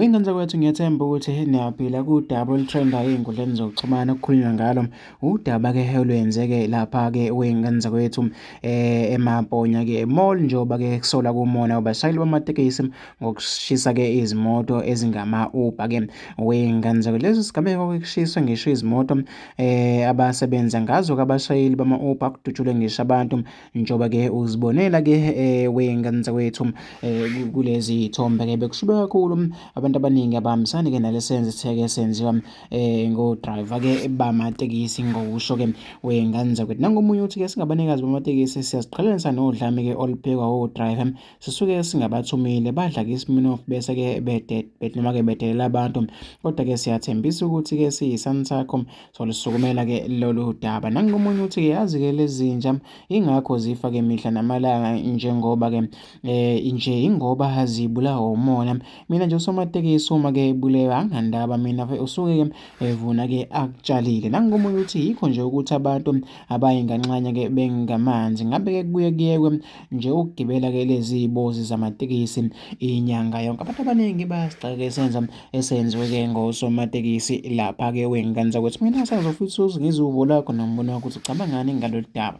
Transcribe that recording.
Ingane zakwethu ngiyethemba ukuthi niyaphila kudaba olutrenda ey'nkundleni zokuxhumana okukhulunywa ngalo udaba-ke olwenzeke lapha-ke wey'ngane zakwethu um eMaponya-ke mall njengoba-ke kusola kumona abashayeli bamatekisi ngokushisa-ke izimoto ezingama-uber-ke wey'ngane zakwethu. Lesi sigameko-ke kushiswe ngisho izimoto eh abasebenza ngazo kabashayeli bama-Uber kudutshulwe ngisho abantu njengoba ke uzibonela ke eh wenganza wethu eh kulezi ithombe ke bekushibe kakhulu abantu abaningi abahambisani ke nalesenze sitheke senziwa eh ngo driver ke bamatekisi ngokusho ke wenganza kwethu nangomunye uthi ke singabanikazi bamatekisi siyaziqhelanisa nodlame ke oluphekwa o driver sisuke singabathumile badla ke isiminofu bese ke bedet bet noma ke bedelela abantu kodwa ke siyathembisa ukuthi ke siyisani sakho solisukumela ke lolu daba nangomunye uthi ke yazi ke lezinja ingakho zifa ke mihla namalanga njengoba ke eh nje ingoba hazibulawa umona mina nje usomatekisi uma ke bulewa angandaba mina usuke ke evuna ke akutshalile nangomunye uthi yikho nje ukuthi abantu abayinganxanye ke bengamanzi ngabe ke kubuye kuyekwe nje ukugibela-ke lezi bozi zamatekisi inyanga yonke abantu abaningi bayasigxeka esenza esenziwe-ke ngosomatekisi lapha-ke wengikanisa ukuthi mina sazofisa uzingizwe uvo lakho nombono wakho ukuthi ucabangani ngalolu daba